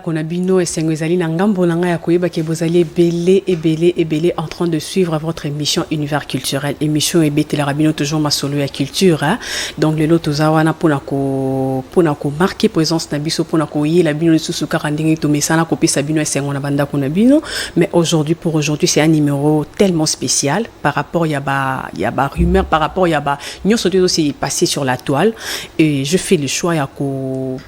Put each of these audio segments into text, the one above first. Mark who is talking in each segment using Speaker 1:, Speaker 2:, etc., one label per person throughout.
Speaker 1: Ndako na bino esengo ezali na ngambo na ngai ya koyeba ke bozali ebele ebele ebele en train de suivre votre émission univers culturel émission ebetelaka bino toujours masolo ya culture hein? donc lelo toza wana mpona ko mpona komarke présence na biso mpona koyela bino lisusu kaka ndenge tomesana kopesa bino esengo na bandako na bino mais aujourd'hui pour aujourd'hui c'est un numéro tellement spécial par rapport ya ba ya ba rumeur par rapport ya ba nyonso te ezosili passer sur la toile et je fais le choix ya ko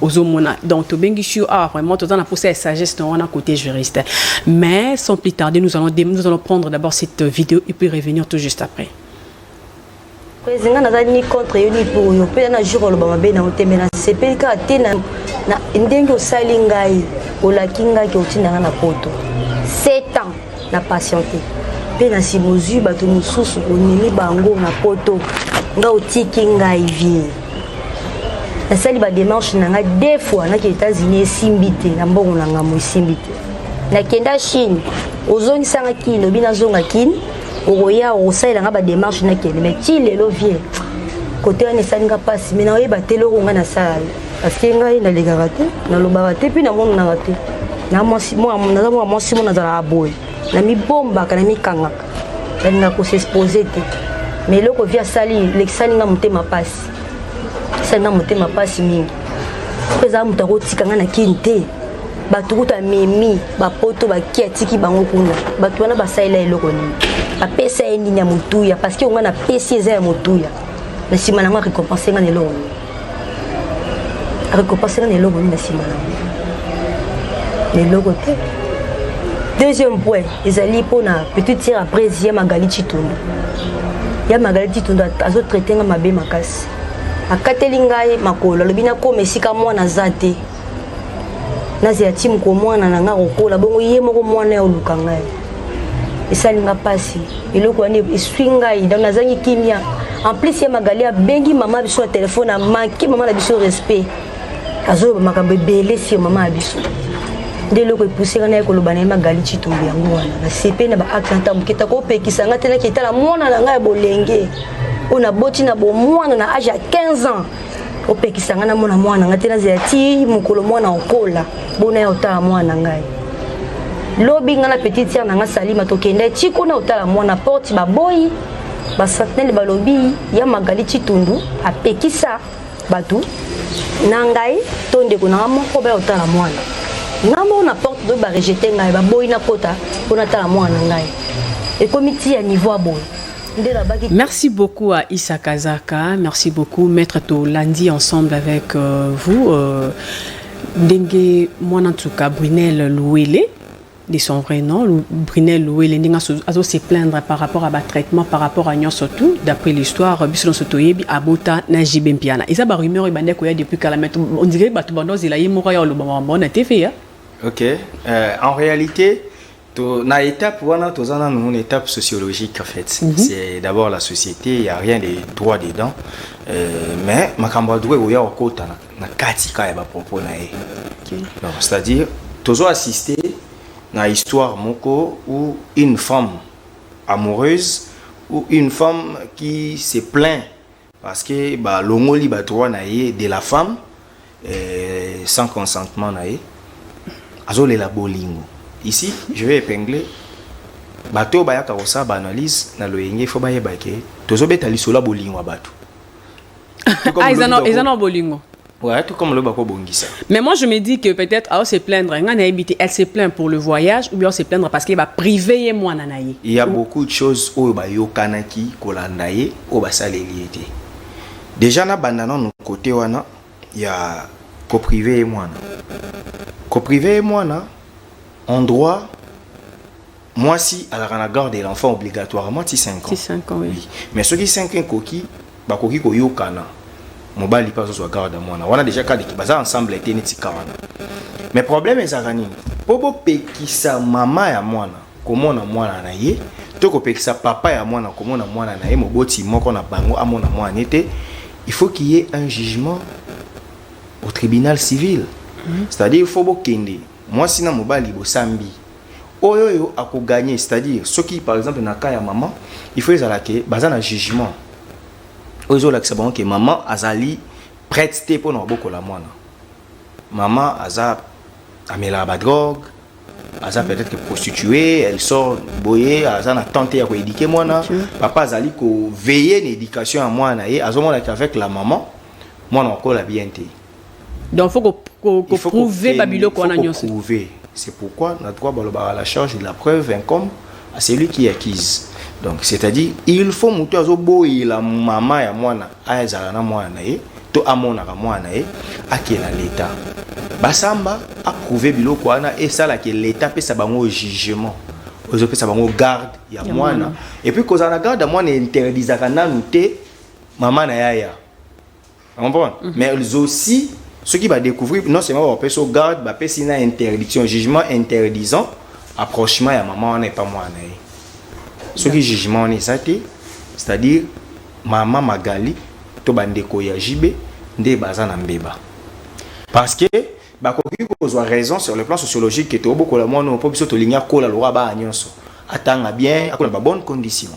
Speaker 1: ozomona donc tobengisi yo awa vraiment toza na posa ya sagesse na wana côté juriste mais sans plus tarder nous allons, nous allons prendre d'abord cette vidéo et puis revenir tout juste après
Speaker 2: presi ngai naza ni contre yo ni pour yo mpe na jour oloba mabe na otembe nasepeli kaka te na ndenge osali ngai olaki ngai ke otinda ngai na poto 7 ans na patiente mpe na nsima ozwi bato mosusu omemi bango na poto nga otiki ngai vie nasali bademarche na ngai de fois naki états-unis esimbi te na mbongo na ngambo esimbi te nakenda chine ozongisanga kini obi nazonga kini okoya okosalela nga bademarche nakende mai ti lelo vie kote wana esali nga mpasi mai naoyeba te eloko ngai nasala Parce que ngai nalekaka te, nalobaka te, mpe namonanaka te. Naza mwasi moko nazalaka boye, namibombaka, namikangaka, nalingaka kosexpose te. Mais eloko vi asali elekisani ngai motema mpasi, esali ngai motema mpasi mingi. Mpe ezala moto akotika ngai na kini te, bato kutu amemi bapoto baki atiki bango kuna, bato wana basalela eloko nini? Bapesa ye nini ya motuya? Parce que ngai napesi eza ya motuya, na nsima na yango arekompense ngai na eloko nini? akokopasana na eloko nini na nsima nango na eloko te deuxième point ezali mpona petite sere apres ya magali citundu ya magali citundu azotraite nga mabe makasi akateli ngai makolo alobi nakoma esika mwana aza te nazela timu ko mwana na nga kokola bongo ye moko mwana ya oluka ngai esali nga mpasi eloko wana eswi ngai donc nazangi kimia en plus ya magali abengi mama biso na telefone amanke mama na biso respect azoloba makambo ebele sio mama ya biso nde eloko epuseka naye koloba na ye magali citumbu yango wana nasepe na baakte na ntango moketa kopekisa ngai te naketala mwana na ngai ya bolenge oyo naboti na bomwana na age ya 15 ans opekisa ngai namona mwana ngai te nazela ti mokolo mwana okola bona ya otala mwana ngai lobi ngai na petite sere na ngai salima tokenda ti kuna otala mwana porte baboyi basentinele balobi ya magali citundu apekisa bato na ngai to ndeko na ngai moko baya otala mwana ngai moko na porte lobi barejete ngai baboyi nakota mpo natala mwana na ngai ekomi ti ya niveau ya boye Merci
Speaker 1: beaucoup à Issa Kazaka, merci beaucoup Maître Tolandi ensemble avec euh, vous. Euh, ndenge mwana ntuka brunel luwele de son vrai nom brunel luwele ndenge azo se plaindre par rapport à batraitement par rapport à nyonso tout d'après l'histoire biso nyonso toyebi abota na jibe mpiana eza barumeur ebandi akoya depuis kala mai ondire bato banda ozela ye moko ya oloba makambo wana te feya ok euh,
Speaker 3: en réalité To, na étape wana toza nanu une étape sociologique en fait mm -hmm. c'est d'abord la société il y a rien de droit dedans euh, mais makambo ya droit ekoya kokota na, na kati kaka ya bapropos na ye okay. donc c'est à dire tozo assiste na histoire moko ou une femme amoureuse ou une femme qui se plaint Parce que ba longoli ba droit na ye de la femme euh, sans consentement na ye. Azolela bolingo. Ici, je vais épingler bato oyo bayaka kosala ba analyse na loyenge fo bayeba ke tozobeta lisolo ya bolingo ya bato
Speaker 1: ah, eza na bolingo Ouais, tout comme le bako
Speaker 3: bongisa. Mais moi je me dis que
Speaker 1: peut-être à se plaindre, nga na habité, elle se plaint pour le voyage ou bien elle se plaindre parce qu'elle va priver et moi nanaye. Il y a beaucoup de choses
Speaker 3: au ba yokanaki kolanda ye au ba saleli été. Déjà na banda non côté wana il y a ko priver et moi. Ko priver et moi na en droit mwasi alaka na garde de l'enfant obligatoirement ti 5 ans ti 5 ans oui. oui mais
Speaker 1: soki 5 ans
Speaker 3: ekoki bakoki koyokana mobali mpe azozwa garde ya mwana wana deja kadiki baza ensemble ete neti kawana mais problème ezalaka nini mpo bopekisa mama ya mwana komona mwana na ye to kopekisa papa ya mwana komona mwana na ye moboti moko na bango amona mwana ye te il faut qu'il y ait un jugement au tribunal civil mm -hmm. c'est-à-dire il faut bokende Muasi na mobali bosambi oyo yo ako gagner c'est à dire soki par exemple na cas ya maman il faut ezala ke baza na jugement oyo ezolakisa bango ke maman azali prête te mpo na kobokola mwana maman aza amelaka badrogue aza peut-être que prostituée elle sort boye aza na temps te ya koédike mwana papa azali koveille na éducation ya mwana na ye azomonaka avec la maman mwana akola bien te donc faut
Speaker 1: ko prouver ba biloko wana nyonso prouver c'est pourquoi
Speaker 3: na droit balobaka la charge de la preuve incombe à celui qui accuse donc c'est-à-dire il faut moto azoboyela mama ya mwana azala na mwana na ye to amonaka mwana na ye akela leta basamba aprouve biloko wana esalaki leta apesa bango jugement ozopesa bango garde ya mwana epuis kozala na garde ya mwana interdisaka nanu te mama na yaya comprendre mm -hmm. mais ils aussi soki ba découvrir non seulement ba peso garde ba pesi na interdiction jugement interdisant approchement ya maman wana epa mwana ye soki jugement wana eza te c'est-à-dire mama magali to bandeko ya jb nde baza na mbeba parce que bakoki kozwa raison sur le plan sociologique ke tobokola mwana oyo mpo biso tolingi akola lokola baa nyonso atanga bien akola ba bonne condition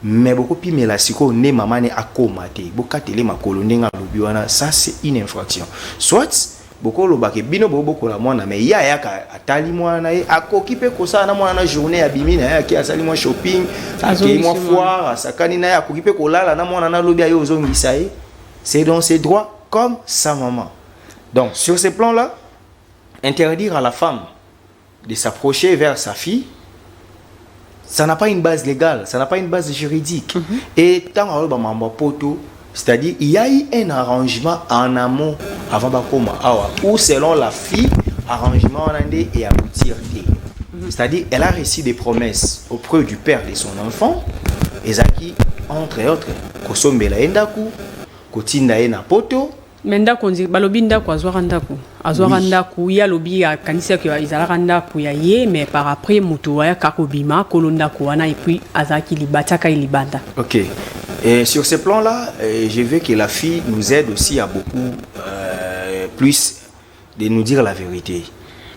Speaker 3: Mais boko pimela sikoyo nde mama ne akoma te bokatele makolo ndenge alobi wana ça c'est une infraction soit boko loba ke bino bo bokola mwana mais ye ayaka atali mwana na ye akoki pe kosala na mwana na journée abimi na ye ake asali mwa shopping akei mwa foire asakani na ye akoki pe kolala na mwana na lobi aye ozongisa ye c'est dans ses droits comme sa maman donc sur ce plan là interdire à la femme de s'approcher vers sa fille ça n'a pas une base légale ça n'a pas une base juridique mm -hmm. et ntango aoyo bamambo ya poto c'est-à-dire il y a eu un arrangement en amont avant bakoma awa ou selon la fille arrangement wana nde e aboutir te mhm. c'est-à-dire elle a reçu des promesses auprès du père de son enfant ezalaki entre autres kosombela ye ndako kotinda ye na poto Mais ndako nzi
Speaker 1: balobi ndako azwaka ndako azwaka oui. ndako ye alobi akanisaki ezalaka ndako ya ye mais par après moto ayaka kobima kolo ndako wana et puis azalaki libatiaka ye libanda ok et
Speaker 3: sur ce plan là euh, je veux que la fille nous aide aussi à beaucoup euh, plus de nous dire la vérité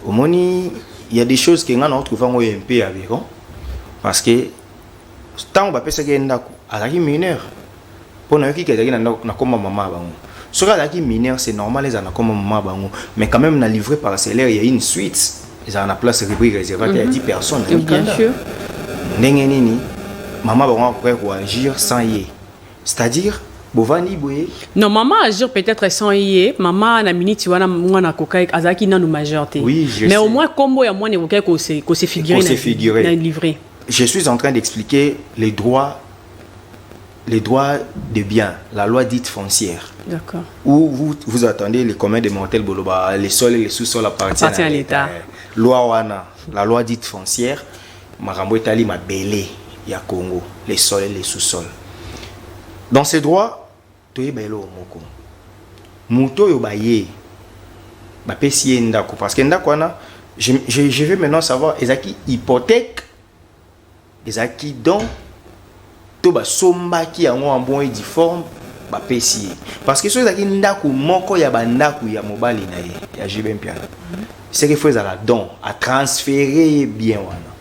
Speaker 3: omoni il y a des choses que nga na retrouve yango ye mpe aberrant parce que ntango bapesaki ye ndako azalaki mineur mpo nayoki ke azalaki na ndako na komba mama ya bango soki azalaki mineur c'est normal ezala na komba mama ya bango mais quand même na livre parcellaire ya une suite ezala na place rubrique réservate ya 10 mhm. personnes na mikanda
Speaker 1: ndenge nini
Speaker 3: mama bango akoki koagir sans ye C'est à dire bovandi boye non maman agir
Speaker 1: peut-être sans ye maman na minute wana mwana akokai azalaki nanu majeur te oui, mais sais. au moins
Speaker 3: kombo ya
Speaker 1: mwana
Speaker 3: ekokaki
Speaker 1: kose kose figurer kose figurer na livrer je suis en train
Speaker 3: d'expliquer les droits les droits de biens la loi dite foncière d'accord où
Speaker 1: vous, vous
Speaker 3: attendez les communs des mortels boloba les sols et les sous-sols appartiennent à l'État loi wana la loi dite foncière makambo etali mabele ya Congo, le sol et le sous-sol. Dans ce droit, toyeba eloko moko. Moto oyo baye bapesi ye ndako parce que ndako wana je, je, je vais maintenant savoir ezalaki hypothèque, ezalaki don to basombaki yango en bon et due forme bapesi ye parce que soki ezalaki ndako moko ya bandako ya mobali na ye ya JB Mpiana seke fo ezala don a transfere ye bien wana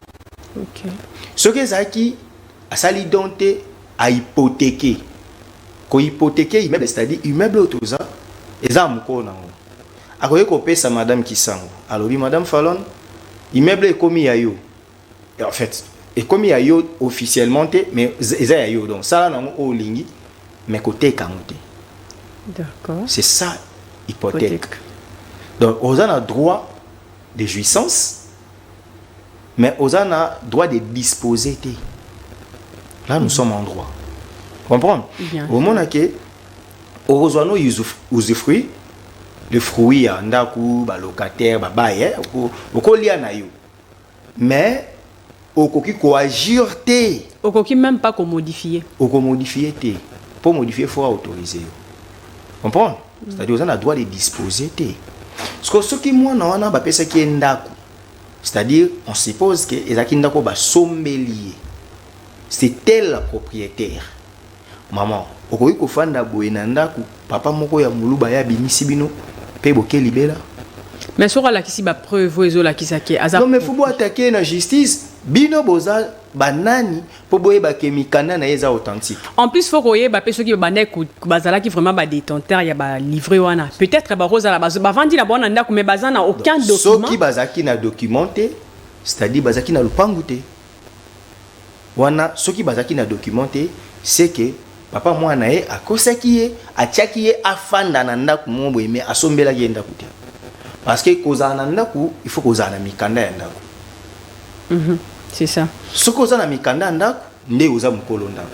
Speaker 3: okay.
Speaker 1: soki ezalaki
Speaker 3: asali don te a hypothèque ko hypothèque immeuble c'est-à-dire immeuble oyo toza eza mokolo na yango akoki kopesa madame Kisango alobi madame Falon immeuble ekomi ya yo En fait, ekomi ya yo officiellement te, mais eza ya yo. Donc sala nango o lingi, mais koteka ngo te.
Speaker 1: D'accord. C'est ça
Speaker 3: hypothèque. Donc oza na droit de jouissance mais aux a droit de disposer là nous mm. sommes en droit comprendre au monde à que heureusement usufruit le fruit ya ndaku ba locataire ba baye hein, okolia na yo Mais okoki ko agir te. Okoki meme pas ko
Speaker 1: modifier. Oko modifier te.
Speaker 3: Pour modifier faut autoriser yo. Comprendre? Mm. C'est-à-dire oza na droit de disposer te. Siko soki mwana wana bapesaki ye ndako. C'est-à-dire on suppose que ezaki ndako basombeli ye. C'est elle la propriétaire. Maman okoki kofanda boye na ndaku papa moko ya muluba ye abimisi bino pe boke libela? Mais soki
Speaker 1: alakisi ba preuve oyo ezo lakisa ke aza Non mais faut bo attaquer ye na
Speaker 3: justice bino boza ba nani po boyeba ke mikanda na ye eza authentique? En plus faut koyeba
Speaker 1: pe soki babandaki ko bazalaki vraiment ba detenteurs ya ba livret wana peut etre bako zala bazo bavandi na bango na ndaku mais baza na aucun document. Soki bazalaki na
Speaker 3: document te c'est à dire bazalaki na lupangu te. Wana soki bazalaki na document te ce que papa mwana na ye akosaki ye atiaki ye afanda na ndaku moko boye mais asombelaki ye ndaku te parce que kozala na ndaku il faut kozala na mikanda ya ndaku mm -hmm. c'est ça
Speaker 1: soki oza na mikanda
Speaker 3: ya ndaku nde oza mukolo ndaku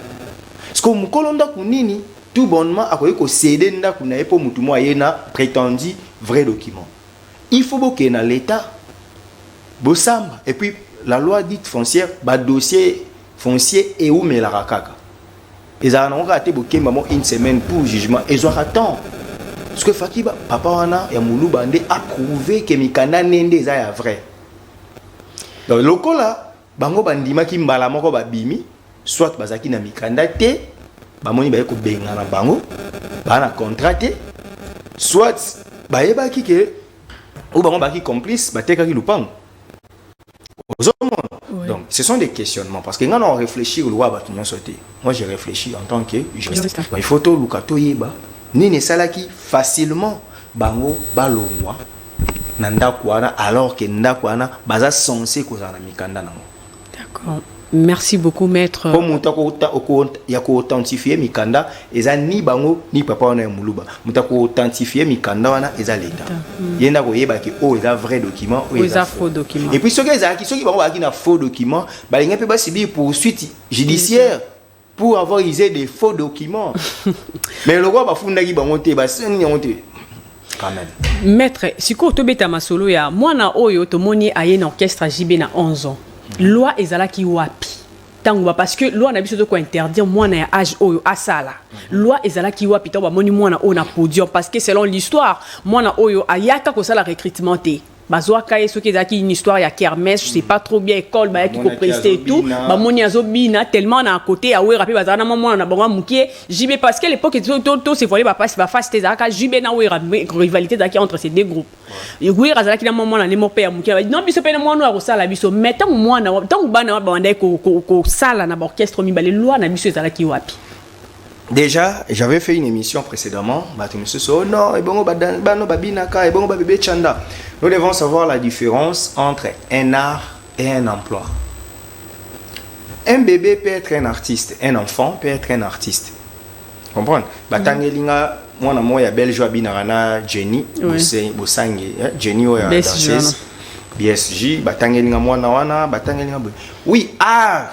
Speaker 3: ce que mukolo ndaku nini tout bonnement akoki ko ceder ndaku na ye po mutu mo aye na pretendu vrai document il faut bokee na l'etat bosamba et puis la loi dite foncière badossier foncier eumelaka kaka ezalaka nango kaka te bokemba mo une semaine pour jugement ezwaka temps parce que faki papa wana ya moluba nde approuve ke mikanda ne nde eza ya vrai donc lokola Bango bandimaki mbala moko babimi, soit bazalaki na mikanda te, bamoni baye kobengana bango, baa na contrat te, soit bayebaki ke ou bango baki complice batekaki lupango oui. donc ce sont des questionnements parce que nga na réfléchir lokola bato nyonso te moi je réfléchis en tant que juriste il faut toluka toyeba nini esalaki facilement bango balongwa na ndako wana alors que ndako wana baza sense kozala na mikanda nango d'accord
Speaker 1: merci beaucoup maître mpo moto
Speaker 3: ya koauthentifie mikanda eza ni bango ni papa wana ya moluba moto akoauthentifie mikanda wana eza leta hmm. ye nde akoyebaki oyo oh, eza vrai document oyo eza faux document
Speaker 1: epuis soki ezalaki
Speaker 3: soki bango bazalaki na faux document balingi mpe basibi poursuite judiciaire pour avoir usé des faux documents mais lokola bafundaki bango te basengi yango te maître sikoyo
Speaker 1: tobeta masolo ya mwana oyo tomoni aye na orchestre jb na 11 ans loi ezalaki wapi ntango ba parce que loi na biso toko interdire mwana ya age oyo asala loi ezalaki wapi ntango bamoni mwana oyo na podium parce que selon l'histoire mwana oyo ayaka kosala recrutement te bazwaka ye soki ezalaki une histoire ya kermesse je sais pas trop bien école bayaki Bamonaki kopreste et tout azobina. bamoni azobina tellement na côté ya wera mpe bazala na mwa mwana na bango ya mokie jb parce que l'époque to- to- to se voile bapasi bafasi te ezalaka jb na wera mais rivalité ezalaki entre ces deux groupes wera azalaki na mwa mwana ne moko mpe ya mokie no biso mpe na mwana oyo akosala biso mais ntango mwana wa- ntango bana wa- babandaki ko- ko- kosala na baorchestre mibale loi na biso ezalaki wapi Déjà,
Speaker 3: j'avais fait une émission précédemment, bato mosusu oh non, ebongo bano babinaka, ebongo babebe chanda. Nous devons savoir la différence entre un art et un emploi. Un bébé peut être un artiste, un enfant peut être un artiste. Comprendre Batangeli mm. nga mwana moko ya belge oyo abinaka na jenny bosange eh, jenny oyo ya danseuse bsg batangeli nga mwana wana batangeli nga boye oui art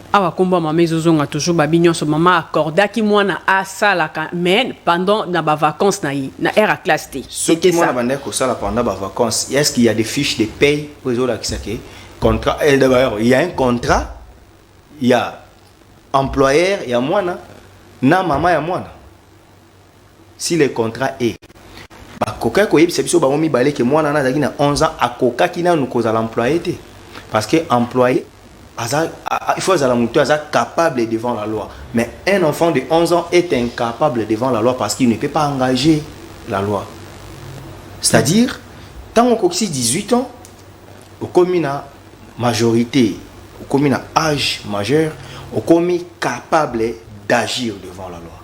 Speaker 1: Awa kombo ya mama ezozonga toujours babi nyonso mama accordaki mwana asalaka mais pendant na ba vacances na ye na heure ya classe te soki mwana bandaki
Speaker 3: kosala pendant ba vacances est ce qu'il y a des fiches de paye mpo ezolakisa ke contrat eh, d'ailleurs il y a un contrat ya employeur ya mwana na mama ya mwana si le contrat est bakokaki koyebisa biso bango mibale ke mwana wana azalaki na 11 ans akokaki nanu kozala employe te parce que employe aza il faut azala moto aza capable devant la loi mais un enfant de 11 ans est incapable devant la loi parce qu'il ne peut pas engager la loi c'est-à-dire ntango okokisi 18 ans okomi na majorité okomi na age majeur okomi capable d'agir devant la loi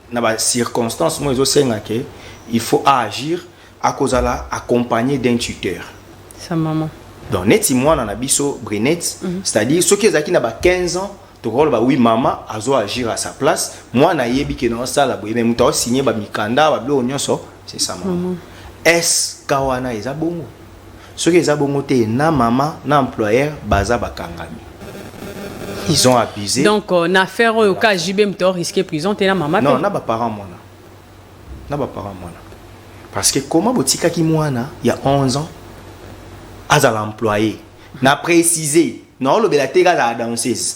Speaker 3: na ba circonstances moi ezo senga ke il faut a agir akozala accompagné d'un tuteur sa maman
Speaker 1: donc neti mwana
Speaker 3: na biso Brinette mm -hmm. c'est-à-dire soki ezalaki na ba 15 ans tokoloba oui mama azo agir à sa place mwana ayebi ke na osala boye mais moto aosigne bamikanda babiloko nyonso c'est sa mama mm -hmm. eske wana eza bongo soki eza bongo te na mama na employeur baza bakangami ils ont abusé donc euh, na affaire
Speaker 1: oyo ka JB mto risquer prison te na mama non na ba parents mwana
Speaker 3: na ba parents mwana parce que comment botikaki mwana ya 11 ans azala employé na préciser na olobela te kazala danseuse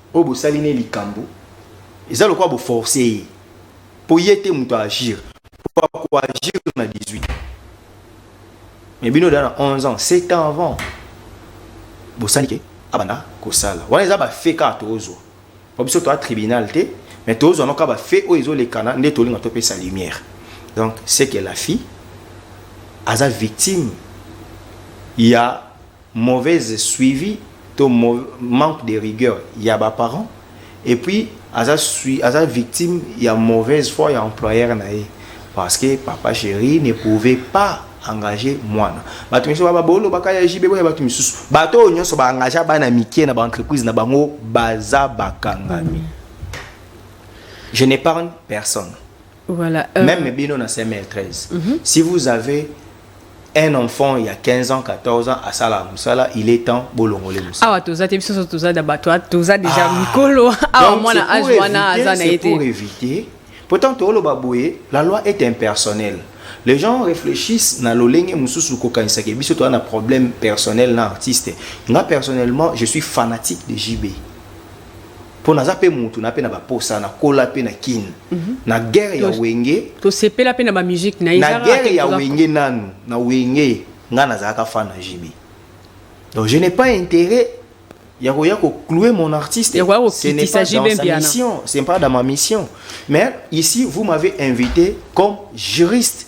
Speaker 3: Oyo bosali ne likambu eza lokola bo forcer ye po ye te mutu a agir po ako agir na 18 ans mais bino deja na 11 ans 7 ans avant bosali ke abanda kosala wana eza ba fait kaka tozwa po biso toa tribunal te mais tozwa noka ba fait oyo ezolekana nde tolinga topesa lumière donc c'est que la fille aza victime ya Mauvaise suivi to manque de rigueur ya ba parents et puis aza aza victime ya mauvaise foi ya employeur na ye parce que papa cheri ne pouvait pas engager mwana bato misusu baba bolobaka ya JB boya bato misusu bato oyo nyonso ba engagea bana mike na ba entreprise na bango baza bakangami je n'épargne personne Voilà.
Speaker 1: Euh... Même Bino na 2013. Mm
Speaker 3: -hmm. Si vous avez un enfant il y a 15 ans 14 ans à sala musala il est temps bolongole musala awa toza te biso toza
Speaker 1: da bato toza déjà ah. mikolo awa mwana age wana aza na été pour éviter
Speaker 3: pourtant toloba boye la loi est impersonnelle les gens réfléchissent na lolenge mususu kokanisa ke biso toza na problème personnel na artiste nga personnellement je suis fanatique de JB mpo naza mpe mutu na mpe na baposa nakola mpe na kin mm -hmm. na guerre ya wenge tosepela mpe na
Speaker 1: bamusike na ye na guerre ya wenge
Speaker 3: nanu na wenge ngai nazalaka fan na jb donc je n'ai pas intérêt ya koya kocloue mon artiste ce n'est pas dans sa mission ce n'est pas dans ma mission mais ici vous m'avez invité comme juriste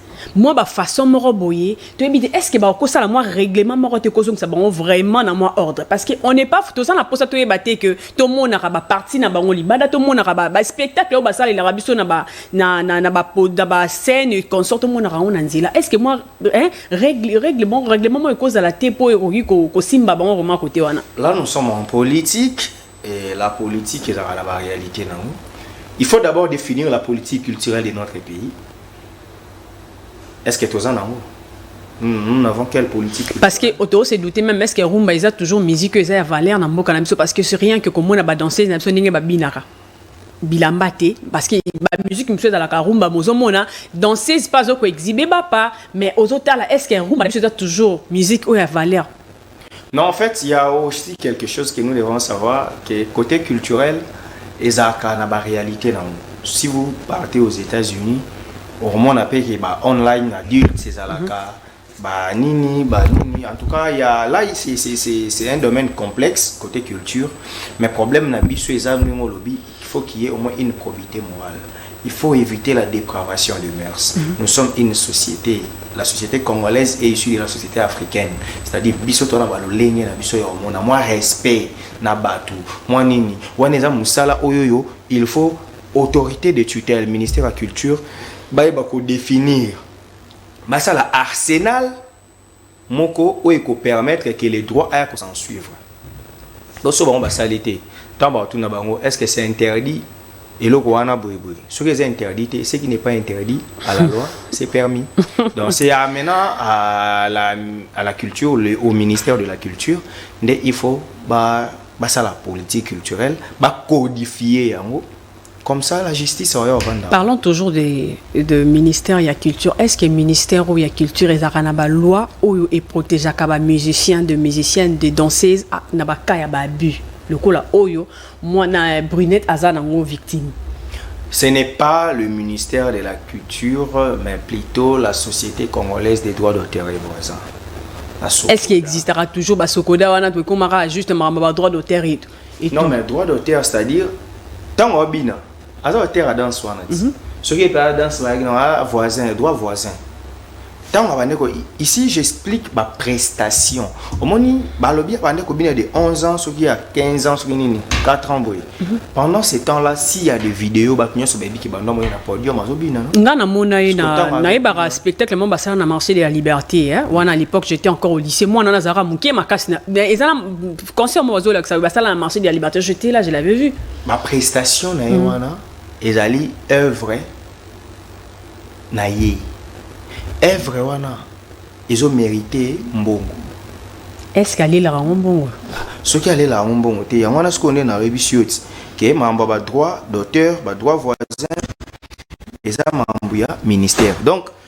Speaker 1: mwa ba façon moko boye toyebi te est ce que bakosala mwa règlement moko te kozongisa bango vraiment na mwa ordre parce que on n'est pas toza na mposa toyeba te que tomonaka baparti na bango libanda tomonaka baspectacle oyo basalelaka biso na ba na na na ba na ba scène consort tomonaka yango na nzela est ce que mwa hein, règle règle bon règlement moko ekozala te mpo ekoki kosimba bango vraiment kote wana là nous sommes en
Speaker 3: politique Eh, la politique ezalaka na ba réalité na yango il faut d'abord définir la politique culturelle de notre pays est ce que toza na yango nous n'avons quelle politique parce que auto se
Speaker 1: douter même est ce que rumba eza toujours musique eza ya valeur na mboka na biso parce que c'est rien que komona ba danseuse na biso ndenge babinaka bilamba te parce que ba musique mosusu ezalaka rumba mozomona danseuse pas oko exhibe bapa mais ozotala est ce que rumba na biso eza toujours musique oyo ya valeur Non, en
Speaker 3: fait, il y a aussi quelque chose que nous devons savoir, que côté culturel, ezalaka na ba réalité na yango si vous partez aux états-unis okomona mpe ke ba online adultes ezalaka mm -hmm. ba nini ba nini en tout cas ya là c'est un domaine complexe côté culture mais problème na biso eza ndenge olobi Il faut qu'il y ait au moins une probité morale. Il faut éviter la dépravation de mœurs. Mm -hmm. Nous sommes une société. La société congolaise est issue de la société africaine. C'est-à-dire, biso tona balolenge na biso ya omona moi respect na batu. Moi nini? Wana eza musala oyoyo, il faut autorité de tutelle, ministère de la culture, baye bako définir. Basala arsenal moko oyo eko permettre que le droit aya ko s'en suivre donc soki bango basali te ntango bakotuna bango est ce que c'est interdit eloko wana boye boye soki eza interdit te ce qui n'est pas interdit à la loi c'est permis donc c'est amenant à la, à la culture le, au ministère de la culture nde il faut ba basala politique culturelle bacodifier yango Comme ça, la justice aurait Rwanda. Parlons toujours de,
Speaker 1: de ministère ya culture. Est-ce que ministère ou ya culture est na ba loi ou et protège ba musiciens, de musiciennes, de danseuses ah, na ba cas ya ba abus. Le cola oyo, moi na brunette aza na ngo victime. Ce n'est
Speaker 3: pas le ministère de la Culture, mais plutôt la Société congolaise des droits d'auteur et voisins. Est-ce
Speaker 1: qu'il existera toujours Basokoda wana tokomaka juste maramba ba droit d'auteur et tout. Et non tout. mais droit
Speaker 3: d'auteur c'est à dire ntango abina aza auteur ya danse wana ti mm -hmm. soki epela danse bayaki na ah, voisin droit voisin ntango abandi ko ici j'explique baprestation omoni balobi abandi kobina de 11 ans soki ya 15 ans soki nini 4 ans boye mhm. pendant ce temps là si ya de video bato nyonso bayebi ke bando moye na podium azobina nga namona
Speaker 1: ye nayebaka spectacle mo basala na marché de la liberté wana à l'époque j'étais encore au lycée mwana nazalaka moke makasi eza na concert moko bazolakisa basala na marché de la liberté j'étais là je l'avais vu baprestation
Speaker 3: na ye mm. wana ezali œuvre na ye œuvre wana ezomérite mbongo
Speaker 1: eske alelaka yango mbongo soki alelaka
Speaker 3: yango mbongo te yango wana sikoyo nde nayebisi yo ti ke makambo ya badroit d'auteur badroit voisin eza makambo ya ministère donc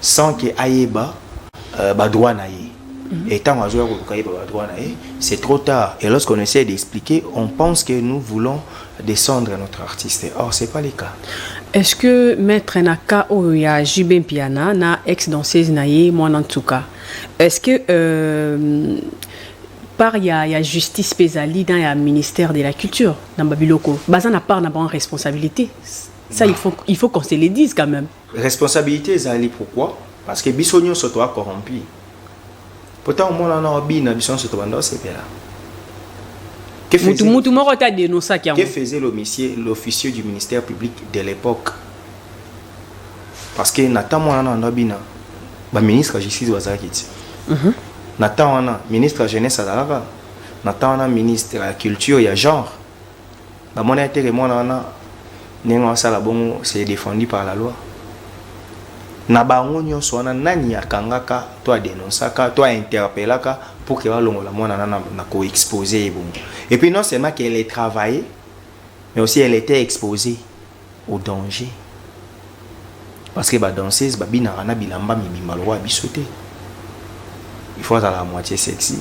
Speaker 3: sans que ayeba euh, ba droit na ye mhm. et tant azoya koluka yeba ba droit na ye c'est trop tard et lorsqu'on essaie d'expliquer on pense que nous voulons descendre notre artiste or c'est pas le cas est-ce que
Speaker 1: maître na cas oyo ya JB Mpiana na ex danseuse na ye mwana ntuka est-ce que euh, part ya, ya justice mpe ezali na ya ministère de la culture na babiloko baza na part na bango responsabilité ça il faut, il faut qu'on se le dise quand même Responsabilite ezali
Speaker 3: pourquoi? Parce que biso nionso toa corrompu. Po tango mwana wana obina biso nionso tobanda osepela. Mutu mutu moko ta denonçaki yango. Que faisait l'officier l'officier du ministère public de l'époque? Parce que na temps mwana wana obina ba ministre ya justice bazalaki ti. Mhm. Na temps wana ministre ya jeunesse azalaka na temps wana ministre ya culture ya genre Bamona ye teke mwana wana ndenge asala bongo c'est défendu par la loi. Na bango nyonso wana nani akangaka to adenonsaka to interpellaka pour que balongola mwana na na ko exposer ye bongo. Et puis non seulement qu'elle est travaillée mais aussi elle était exposée au danger. Parce que ba danseuses ba binaka na bilamba mibimba lokola biso te. Il faut azala moitié sexy.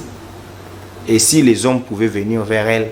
Speaker 3: Et si les hommes pouvaient venir vers elle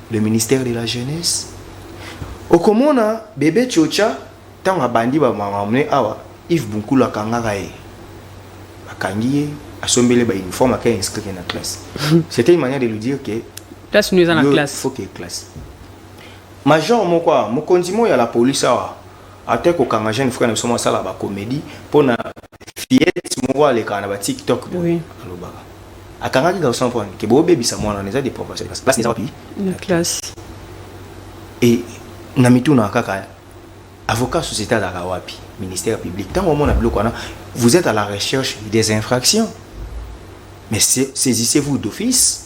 Speaker 3: le ministère de la jeunesse okomona bebe chocha ntango abandi bamamamne awa ive bunkulu akangaka ye bakangi ye asombele ba uniforme aka inscrire na classe c'était une manière de lui dire que classe nous eza na
Speaker 1: classe faut que classe
Speaker 3: major moko awa mokonzi moko ya la police awa Ata kokanga jeune frère na biso mwa sala ba comedie mpo na fillette moko alekaka na ba tiktok boye Oui. alobaka akangaki garçon mpo ke bobebisa mwana wana eza depravation de classe classe eza wapi na classe e na mitunaka kaka avocat société azalaka wapi ministère public ntango omona biloko wana vous êtes à la recherche des infractions mais sa- saisissez-vous d'office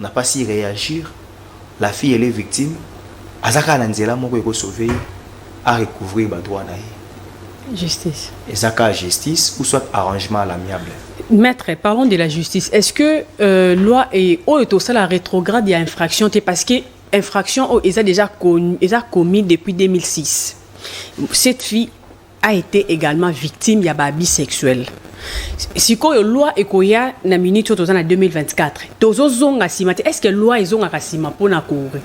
Speaker 3: Na pasi reagir la fille elle est victime aza kaka na nzela moko eko sauver ye a recouvrir ba droit na ye justice
Speaker 1: eza kaka
Speaker 3: justice ou soit arrangement à l'amiable Maître, parlons
Speaker 1: de la justice. Est-ce que euh, loi et oh, et ça la rétrograde il y a infraction t'es parce que infraction oh, ils a déjà connu, ils a commis depuis 2006. Cette fille a ete egalement victime ya ba abus sexuel sikoyo loi ekoya na minute oyo toza na 2024 tozozonga nsima te estce que loi ezongaka nsima mpona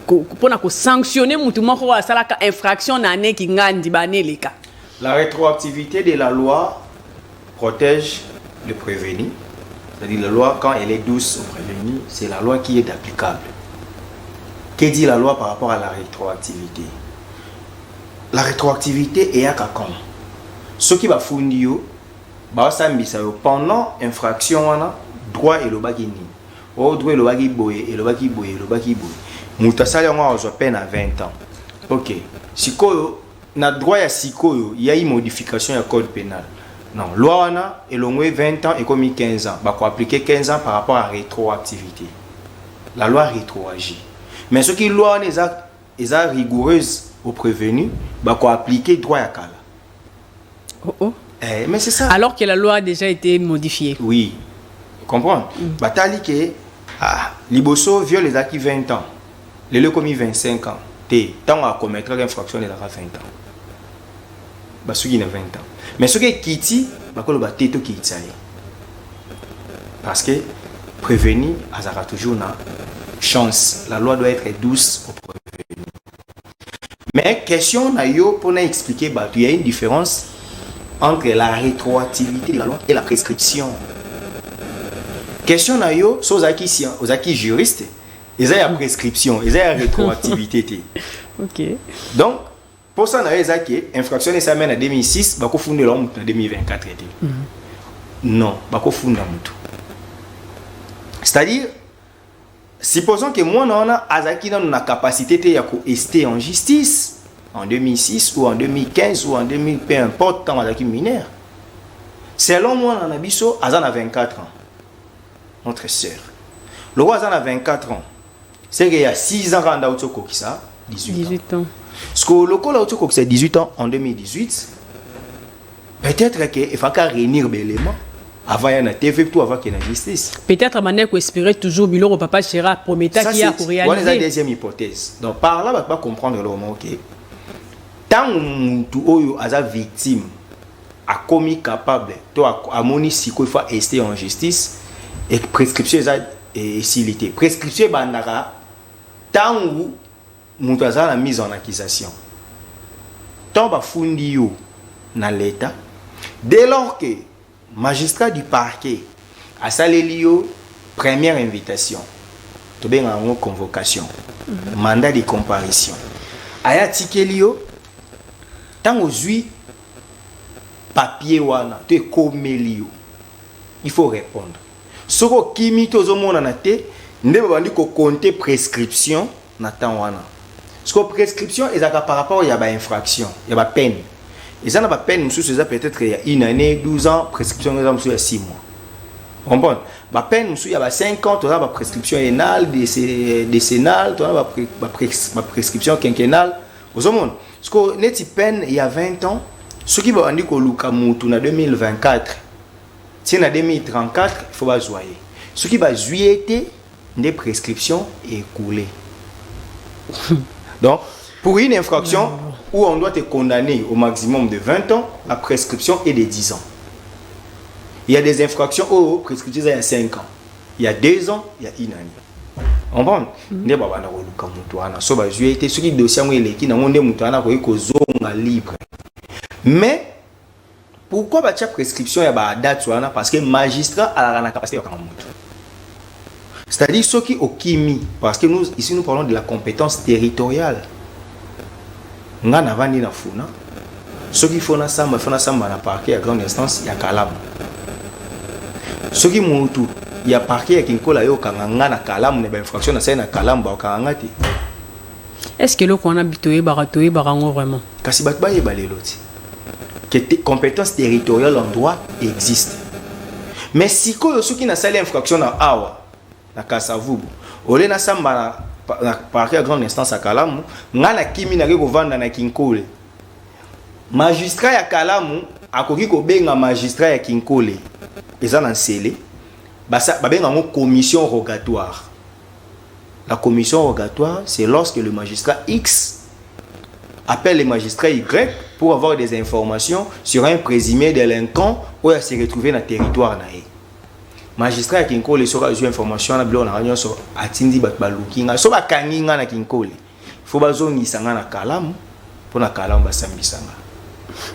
Speaker 1: mpona kosanctionne motu moko oyo asalaka infraction na ane kingandi baane eleka
Speaker 3: la rétroactivité de la loi protège le prévenu c'est-à-dire la loi quand elle est douce au prévenu c'est la loi qui est applicable que dit la loi par rapport à la rétroactivité La retroactivite eyaka quand soki bafundi yo basambisa yo pendant infraction wana droit elobaki nini o oh, droit elobaki boye elobaki boye elobaki boye moto asali yango azwa peine à 20 ans ok sikoyo na droit ya sikoyo yai modification ya code pénal non loi wana elongwe 20 ans ekomi 15 ans bakoaplike 15 ans par rapport à rétroactivité la loi rétroagit mais soki loi wana eza Eza rigoureuse au prevenu ba ko appliquer droit ya kala. Oh oh. Eh, mais c'est ça. Alors que la loi a déjà
Speaker 1: été modifiée. Oui.
Speaker 3: Comprends mm. Batali que ah, liboso viol ezalaki 20 ans. Lelo ekomi 25 ans. Te, ntango akomettre infraction ezalaka 20 ans. basuki na 20 ans mais soki ekiti bakoloba te tokitisa ye parce que prévenu azalaka toujours na chance la loi doit être douce au prévenu mais question na yo mpona expliquer bato ya une différence entre la rétroactivité de la loi et la prescription question na yo so ozalaki ozalaki juriste eza ya prescription eza ya rétroactivité te okay.
Speaker 1: donc
Speaker 3: Posa na yo eza ke infraction wana esalami na 2006 bakofundela yo motu na 2024 te mhm. non bakofunda motu c'est-à-dire supposons ke mwana wana azalaki nano na capacité te ya koeste en justice en 2006 ou en 2015 ou en 2000 peu importe ntango azalaki mineur selon mwana na biso aza na 24 ans notre sœur lokola aza na 24 ans seke ya 6 ans kaka nda auti okokisa 18 ans sikoyo lokola auti okokisa 18 ans en 2018 peut-être ke efaki aréunir baélément avant ya na tv to avant ke na justice peut-être banda koespere
Speaker 1: toujours biloko papa chera aprometaki ya korealiser wana eza deuxième hypothèse
Speaker 3: donc par là bato bacomprendre eloko moko ke ntango motu oyo aza victime akomi capable to amoni siko ifa este en justice e prescription eza esili te prescription ebandaka ntango moto aza na mise en accusation ntango bafundi yo na leta dès lors que magistrat du parquet asaleli yo première invitation tobengaka yango convocation mhm. mandat de comparution aya atikeli yo ntango ozwi papier wana to ekomeli yo il faut repondre soki okimi te ozo monana te nde ba bandi ko compter prescription na temps wana siko prescription ezalaka par rapport ya ba infraction ya ba peine eza na ba peine mosusu eza peut-être ya une année 12 ans prescription eza mosusu ya 6 mois comprendre ba peine mosusu ya ba 5 ans toza ba prescription enale décennale toza ba prescription quinquennale ozomona sikoyo neti peine ya 20 ans soki babandi koluka mutu na 2024 ti na 2034 faut bazwa ye soki bazwi ye te nde prescription ekoule donc pour une infraction où on doit te condamner au maximum de 20 ans la prescription est de 10 ans il y a des infractions où prescription est à 5 ans ya deux ans ya une année comprendre mm. nde babanda koluka moto wana so bazwi ye te soki dossier yango eleki nango nde moto wana akoki kozonga libre mais pourquoi batya prescription ya badate wana parce que magistrat alaka na capacité yakanga moto c'est-à-dire soki okimi parce que nous ici nous parlons de la compétence territoriale Nga navandi na funa soki faut nasamba faut nasamba na parquet ya grande instance ya kalamu soki mutu ya parquet ya kinkola yo okanga nga na kalamu na bainfraction nasali na kalamu baokanga nga te est
Speaker 1: ce que eloko wana toyebaka toyebaka yango vraiment kasi bato bayeba lelo
Speaker 3: ti que compétence territoriale en droit existe mais sikoyo soki nasali infraction na awa na Kasa-Vubu. Au lieu nasamba na, na parquet ya grande instance ya Kalamu, ngai nakimi nake kovanda na Kinkole. Magistrat ya Kalamu akoki kobenga magistrat ya Kinkole, eza na nsele, babenga yango commission rogatoire. La commission rogatoire, c'est lorsque le magistrat X appelle le magistrat Y pour avoir des informations sur un présumé délinquant ou à se retrouver dans le territoire. magistrat ya kinkole soki azwi information wana biloko nanga nyonso atindi bato baluki ngai so bakangi ngai na kinkole fo bazongisa ngai na kalamu mpo na kalamu basambisa ngai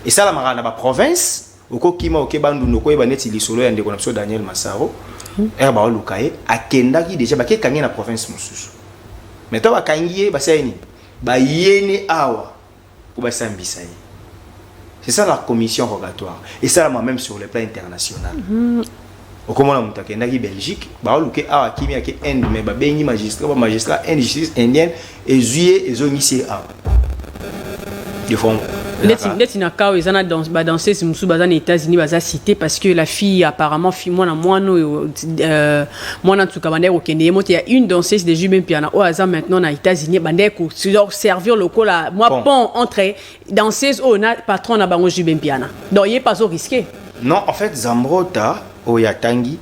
Speaker 3: esalamaka na baprovince okokima oke bandundu okoyeba neti lisolo ya ndeko na biso daniel masaro hmm. ere baoluka ye akendaki deja bakekangi ye na province mosusu mai ntango bakangi ye basali nini bayene awa Mpo basambisa ye. C'est ça la commission rogatoire. Et ça, la même sur le plan international. Mm -hmm. okomona moto akendaki belgique baoluke awa akimi ake inde mais babengi magistrat bamagistrat inde justice indienne ezwi ye ezongisi ye awa neti na
Speaker 1: kao eza na badanseuse mosusu baza na états-unis baza cité parce que la fille apparemment fille mwana mwana oyo euh, mwana nsuka bandaki kokende ye moto ya une danseuse de jube mpiana oyo aza maintenant na états-unis bandaki koservir lokola mwa bon. pont entre danseuse oyo na patron na bango jube mpiana donc ye mpe azo risque non en fait
Speaker 3: zambrota oyo atangi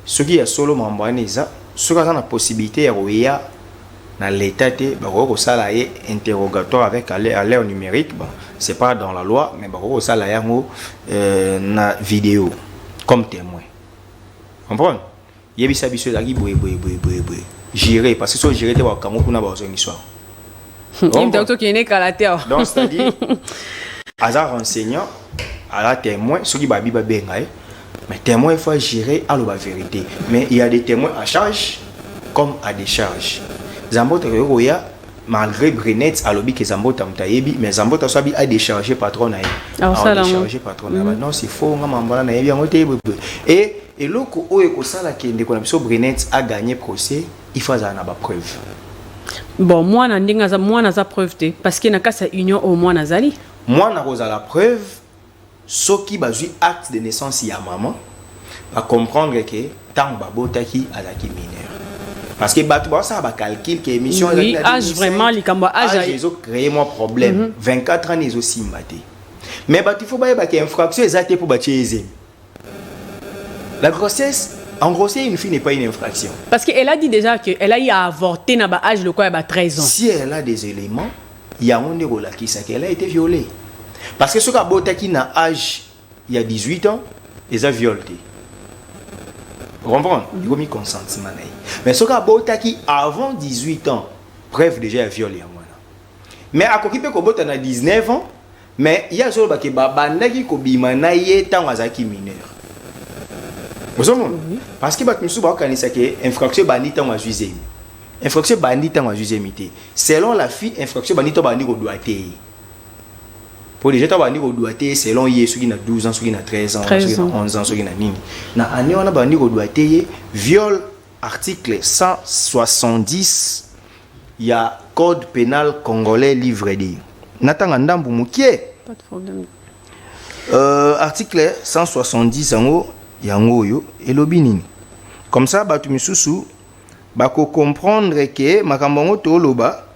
Speaker 3: soki ya solo mambo wana eza soki aza na possibilité ya koya na l'état te bakoki kosala ye interrogatoire avec à l'ère numérique bon, c'est pas dans la loi mais bakoki kosala yango euh, na vidéo comme témoin comprendre yebisa biso elaki boye boye boye boye boye gérer parce que so gérer te bakango kuna bazongi soir
Speaker 1: tokende kala te awa donc c'est-à-dire
Speaker 3: aza renseignant aza témoin soki babi babenga ye mais témoin il faut gérer aloba vérité mais il y a des témoins à charge comme à décharge zambo tokoki koya malgre Brenet alobi ke Zambota moto ayebi mais Zambota so abi a décharger patron na ye ah, a décharger patron na ye mm. non c'est faux nga mambala na yebi yango te et eloko oyo ekosala ke ndeko na biso Brenet a gagner procès il faut azala na ba preuve bon
Speaker 1: mwana ndenge aza mwana aza preuve te parce que na kasa union oyo mwana azali mwana akozala
Speaker 3: preuve Soki bazui acte de naissance ya maman ba comprendre que tango ba botaki azalaki mineur. Parce que batu bazo sala ba calcul que emission ezalaki oui, na 2005. Age vraiment
Speaker 1: likambo ya age. Age ezo cree mwa
Speaker 3: problème. Mm -hmm. 24 ans ezo simba te. Mais batu faut bayeba que infraction eza te po ba tie ye zemi. La grossesse En grossesse, une fille n'est pas une infraction. Parce qu'elle a dit déjà
Speaker 1: qu'elle a eu à avorter na ba âge lokola ba 13 ans. Si elle a des éléments,
Speaker 3: yango nde kolakisa qu'elle a été violée. Parce que soki abotaki na âge ya 18 ans, eza viol te. Comprendre? Mhm. Ekomi consentement na ye. Mais soki abotaki avant 18 ans, preuve déjà ya viol yango wana. Mais akoki mpe kobota na 19 ans Mais ye azoloba ke babandaki kobima na ye ntango azalaki mineur ozomona mhm. parce que bato mosusu bakokanisa ke infraction ebandi ntango azwi zemi infraction ebandi ntango azwi zemi te selon la fille infraction ebandi to bandi kodwa te ye mpo deja ntango bandi kodwa te ye selon ye soki na 12 ans soki na 13 ans soki na 11 ans soki na nini na année wana bandi kodwa te ye viol Article 170 ya code penal congolais livre de natanga ndambu mukie. Pas de
Speaker 1: problème. Euh, article 170
Speaker 3: yango yango oyo elobi nini? Comme ça batu misusu bako comprendre que makambo yango toloba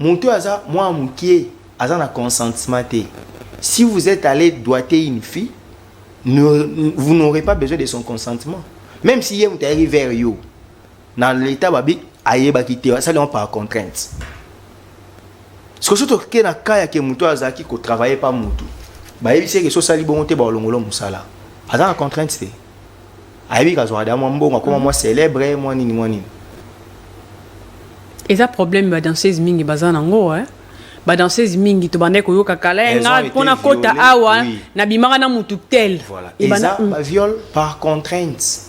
Speaker 3: Mutu oyo aza mwana mukie aza na consentement te si vous etes alle doiter une fille vous n'aurez pas besoin de son consentement meme si ye mutu ayaki vers yo na leta babi ayebaki te asali yango par contrainte siko so toke na kaya ke mutu oyo azalaki kotravaille pa mutu bayebisi eke so osali bongo te baolongolo mosala aza na contrainte te ayebi kazwaka da mwa mbongo akoma mwa célèbre mwa nini mwa nini
Speaker 1: eza problème ba danseuse mingi baza nango eh? ba danseuse mingi tobandaki koyoka kala ye nga mpo nakota awa oui. nabimaka na motu tel voilà. eza mm.
Speaker 3: baviole par contrainte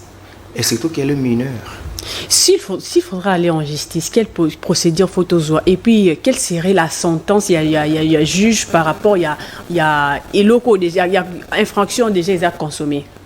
Speaker 3: et surtout qu'elle est mineure S'il faut,
Speaker 1: s'il faudra aller en justice, quelle procédure faut ozoa Et puis, euh, quelle serait la sentence Il y a, il y a, il y a juge par rapport, il y a, il y a, il y a, il y a infraction déjà, ils ont consommé.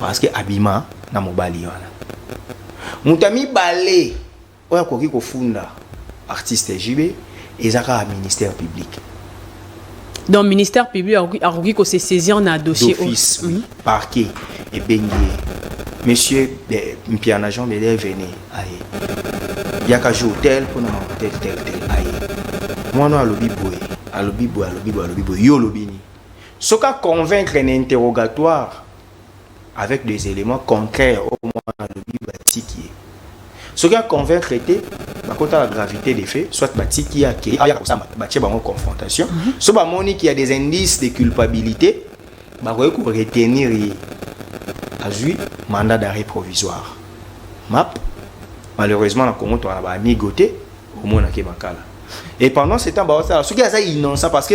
Speaker 3: parceke abima na mobali wana moto ya mibale oyo akoki kofunda artiste jb eza kaka ministère public
Speaker 1: donc ministère public akoki kose saisir na dossier office oui. Mhm.
Speaker 3: parquet ebengi ye monsieur mpiana jean bele vene aye yaka jour tel mpona mahotel tel tel aye mwana oyo alobi boye alobi boye alobi boye alobi boye yo olobi nini soki a convaincre na interrogatoire avec des éléments contraires au moins alobi batiki ye soki a convaincre te bakotala gravité des faits soit batiki ye akei ayaka kosamba batie bango confrontation mhm. so bamoni qu'il y a des indices de culpabilité bakoki koretenir ye azwi mandat d'arrêt provisoire map malheureusement na congo toka na baamigo te omonake makala et pendant ce temps baosala soki aza innocent parce que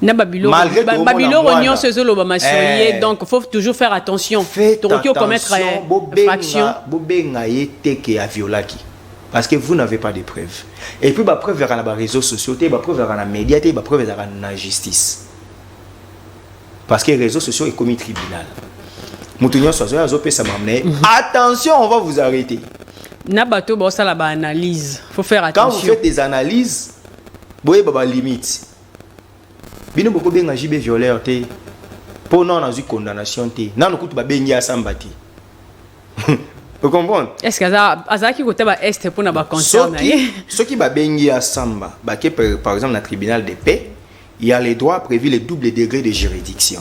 Speaker 1: na babiloko nyonso ezolobama sur eh. ye donc faut toujours faire attention tokoki ocommettre
Speaker 3: eh, faction bobenga ye teke ya violaki parce que vous n'avez pas de preuves et puis bapreuve ezalaka na baréseaux sociaux te bapreuve ezalaka na média te bapreuve ezalaka na justice parce que réseaux sociaux ekomi tribunal moto nyonso azoya azopesa mamna ye mhm. attention on va vous arrêter na bato
Speaker 1: baosala baanalyse faut faire attention quand vous faites des analyses
Speaker 3: boyeba ba limite bino bokobenga jb violeur te mpo nano nazwi condamnation te nano kutu babengi asamba te ocomprendre estce azalaki
Speaker 1: kota ba este mpo na baconcert na ye soki babengi
Speaker 3: asamba bake par exemple na tribunal de paix Il y a les droits prévus les doubles degrés de juridiction.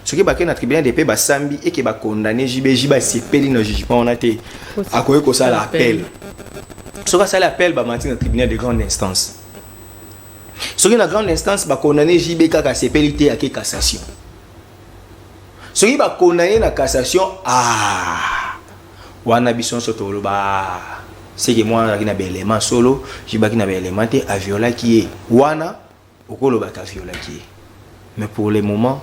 Speaker 3: Ce qui est na tribunal de paix ba sambi et qui ba condamné JB JB sepeli na jugement on a été à quoi que ça l'appel. Ce que ça l'appel ba matin na tribunal de grande instance. Ce qui na grande instance ba condamné JB kaka sepeli te à qui cassation. Ce qui ba condamné na cassation ah wana bison soto le ba c'est que moi na belle solo, JB qui na belle te a viola qui est wana Okoloba ta violaki ye. Mais pour le moment,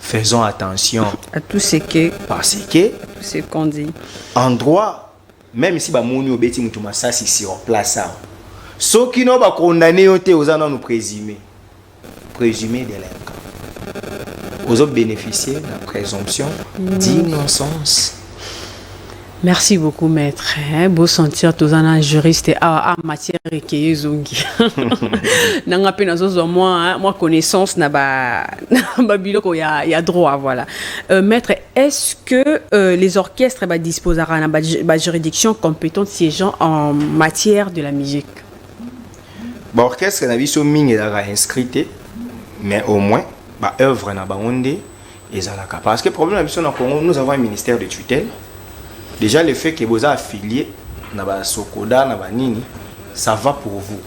Speaker 3: faisons attention à tout ce que
Speaker 1: parce que tout
Speaker 3: ce qu'on dit
Speaker 1: en droit
Speaker 3: même si bamoni obeti moto masasi sur place awa soki no bakondane yo te oza nano présumé présumé délinquant ozo bénéficier na présomption d'innocence
Speaker 1: Merci beaucoup maître. Hein, beau sentir tous un juriste ah, ah matière et qui est zongi. Nanga pe nazo zo moi hein, moi connaissance na ba na ba biloko ya ya droit voilà. Euh, maître, est-ce que euh, les orchestres ba disposent à na ba juridiction compétente siégeant en matière de la musique? Ba
Speaker 3: orchestre na biso mingi la inscrite mais au moins ba œuvre na bango nde ezalaka parce que problème na biso na congo nous avons un ministère de tutelle déjà le fait que boza affilié na basokoda na banini ça va pour vous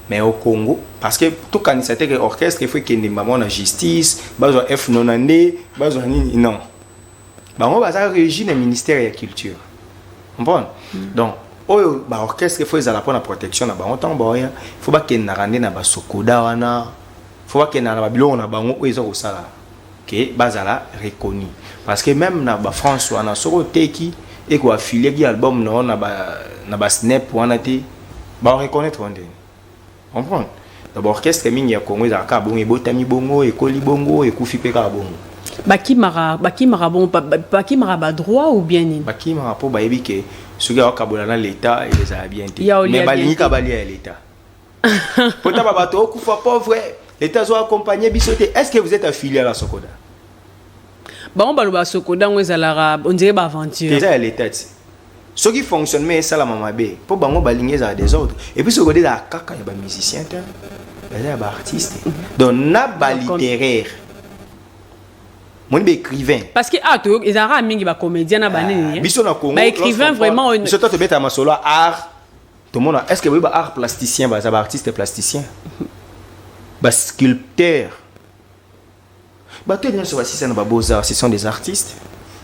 Speaker 3: mais au congo parce que tokanisa te ke orchestre efo ekende mbango na justice bazwa f nona nde bazwa nini non bango baza régi na ministère ya culture comprendre mm. donc oyo baorchestre efo ezala mpo na protection na bango ntango baoya fo bakendaka nde na basokoda wana fo bakendaka na babiloko na bango oyo eza kosala que bazala reconnu parce que meme na ba France wana soki oteki eko affilie ki album na yo na ba na ba snap wana te ba reconnaitre yo ndeni comprendre na ba orchestre mingi ya Congo ezalaka kaka bongo ebotami bongo ekoli bongo ekufi mpe kaka bongo bakimaka
Speaker 1: bakimaka bon bakimaka ba droit ou bien nini bakimaka mpo bayebi ke
Speaker 3: soki akokabola na leta ezala bien te mais balingika balia ya leta potaba bato okufa pauvre leta azo accompagne biso te est ce que vous êtes affilié à la sokoda
Speaker 1: bango baloba sokoda yango ezalaka ondire baaventure eza ya leta ti
Speaker 3: soki fonctionnement esalama mabe mpo bango balingi ezala desordre epuis sokoda ezala kaka ya bamusicien te eza ya baartiste donc na balittéraire moni baécrivain parce que ah, to
Speaker 1: ezalaka mingi bacomédien na banini ah, biso na congo baécrivain
Speaker 3: vraiment biso
Speaker 1: to tobetaka masolo
Speaker 3: ya art tomona est ce que boyebi ba art plasticien baza ba artiste plasticien ba sculpteur bato nyonso basisa na ba beaux arts ce sont des artistes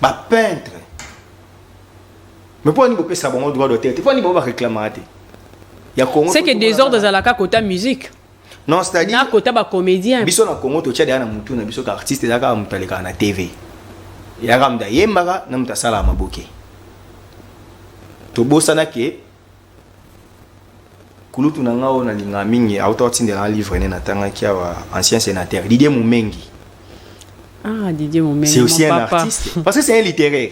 Speaker 3: ba peintre mais mpo ani bopesa bango droit d'auteur te mpo ani bango bareklamaka te ya congo seke desordre ezalaka
Speaker 1: kota musique Non, c'est-à-dire.
Speaker 3: N'a kota ba comédien.
Speaker 1: Biso na Congo to tchade na
Speaker 3: mutu na biso ka artiste zaka mutaleka na TV. Ya ka mda yembaka na muta sala maboke. To bosana ke kulutu na ngao na linga mingi auto tindela un livre ne na tanga kia wa ancien sénateur Didier Mumengi.
Speaker 1: Ah Didier Mumengi. C'est aussi un papa. artiste
Speaker 3: parce que c'est un littéraire.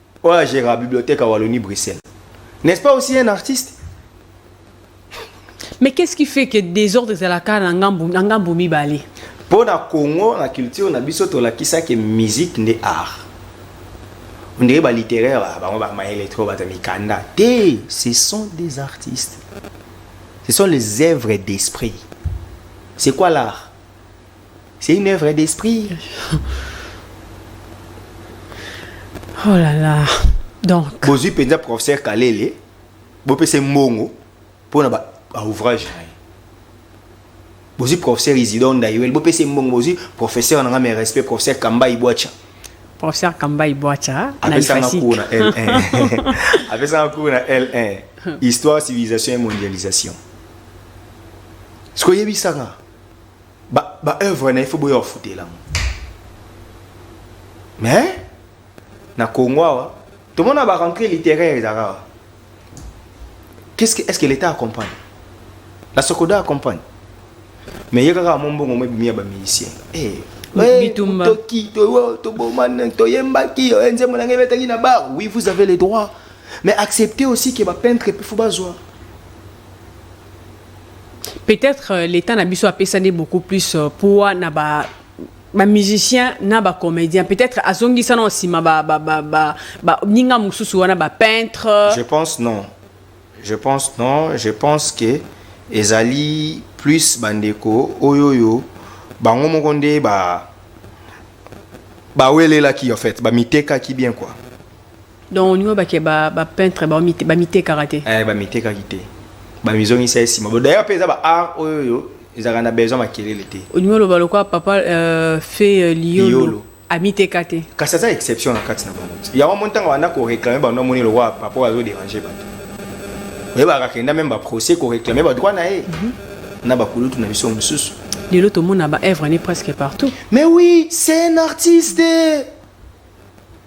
Speaker 3: oyo agera bibliothèque ya wallonie bruxelles n'est ce pas aussi un artiste
Speaker 1: mais qu'est ce qui fait que désordre ezalaka na ngambo na ngambo mibale mpo na congo
Speaker 3: na culture na biso tolakisaki musique nde art ondire balittéraire ah, bango bamayele trop bato mikanda te ce sont des artistes ce sont les œuvres d'esprit c'est quoi l'art C'est une œuvre d'esprit.
Speaker 1: Oh là là. Donc. Bozui penza professeur
Speaker 3: Kalele. Bopese mbongo. Pour na ba ouvrage na ye. Bozui professeur Isidore Ndayuel. Bopese mbongo. Bozui professeur na nga mes respects. Professeur Kamba Ibuacha. Professeur
Speaker 1: Kamba Ibuacha. Apesa nga cours na
Speaker 3: L1. Apesa nga cours na L1. Histoire, civilisation et mondialisation. Ce que yebisa nga. ba ba œuvre na il faut boya ofutela ngo mais na Congo awa tomona ba rentrée littéraire ezaka awa qu'est-ce que est-ce que l'état accompagne la Socoda accompagne mais ye kaka mo mbongo mo ebimi ya ba musiciens eh bitumba toki tobomana toyembaki eh, nzembo na ngai ebetaki na bar oui vous avez le droit mais acceptez aussi que ba peintre pe faut bazwa
Speaker 1: Peut-etre euh, l'Etat na biso apesa nde beaucoup plus euh, poids na ba ba musiciens na ba comédiens peut-être azongisa na nsima ba ba ba ba ba ninga mususu wana ba peintre Je pense non.
Speaker 3: Je pense non. Je pense que ezali plus bandeko oyo oyo bango moko nde ba bawelelaki en fait bamitekaki bien quoi. Donc olingi
Speaker 1: oloba ke ba, ba peintre bamite- bamitekaka te? Eh, bamitekaki te
Speaker 3: bamizongisa ye nsima Bo- d'ailleurs mpe eza ba art oyo oyo ezalaka na besoin makelele te olingi oloba lokola papa
Speaker 1: euh, fe euh, liolo Liolo. amiteka te kasi aza exception
Speaker 3: na kati na bango yango mo ntango abanda koreklame bango amoni lokwa papa oyo azoderange bato oyebaka kenda meme baprocès koreklame badroit na ye na bakulutu na biso mosusu lelo tomona ba
Speaker 1: œuvre ne presque partout mais oui c'est
Speaker 3: un artiste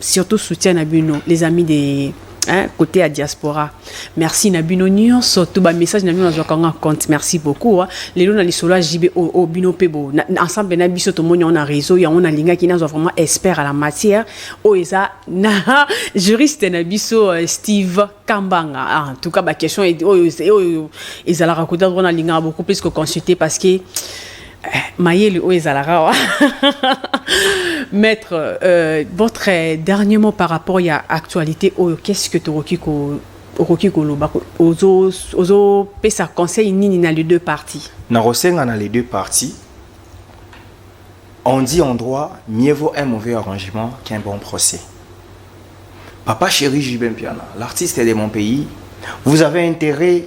Speaker 1: surtout soutien na bino les amis de hein, côté ya diaspora merci na bino nyonso to bamessage na bino nazwaka yango compte merci beaucoup hein. lelo na lisolo ya jb oyo oh, oh, bino mpe bo na, ensemble na biso tomoni yango na réseau yango nalingaki nazwa vraiment expert à la matière oyo eza na juriste na biso euh, steve kambanga ah, en tout cas baquestion oyo ezalaka koda wana nalingaka beaucoup plus koconsulte parce que Eh, mayele oyo ezalaka wa maître euh, votre dernier mot par rapport ya actualité oyo qu'est ce que tokoki ko okoki koloba ozopesa conseil nini na les deux parties nakosenga na les
Speaker 3: deux parties on dit en droit mieux vaut un mauvais arrangement qu'un bon procès papa chéri jubin piana l'artiste de mon pays vous avez intérêt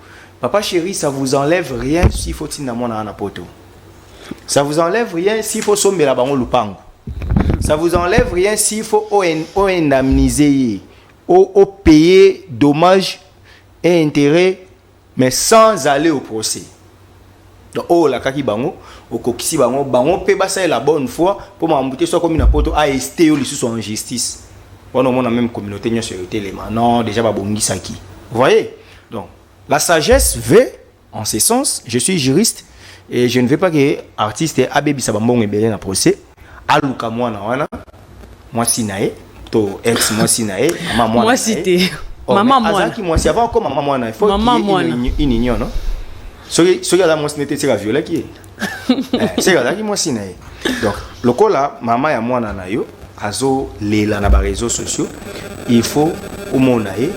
Speaker 3: Papa chéri, ça vous enlève rien s'il faut tinda mwana wana poto. Ça vous enlève rien s'il faut sombela bango lupango. Ça vous enlève rien s'il faut o indemniser ye, o, o payer dommages et intérêts, mais sans aller au procès. Donc oh la kaki bango, okokisi bango, bango pe basa la bonne foi pour m'embouter soit comme na poto a esté yo lisusu en justice. On a même communauté nyo sur le téléma. Non, déjà babongisaki. Vous voyez? Donc, la sagesse veut, en ce sens, je suis juriste, et je ne veux pas que artiste abebisa bambongo ebele na procès, aluka mwana wana, mwasi na ye, to ex mwasi na ye, mama mwana mwasi na ye. te
Speaker 1: Oh,
Speaker 3: mama
Speaker 1: mais mwana azalaki mwasi avant akoma mama
Speaker 3: mwana il faut Mama qu'il y ait mwana. une, uni- une union non soki soki aza mwasi nde te seka aviolaki ye seke azalaki mwasi na ye donc lokola mama ya mwana na yo azolela na bareseau sociaux il faut omona ye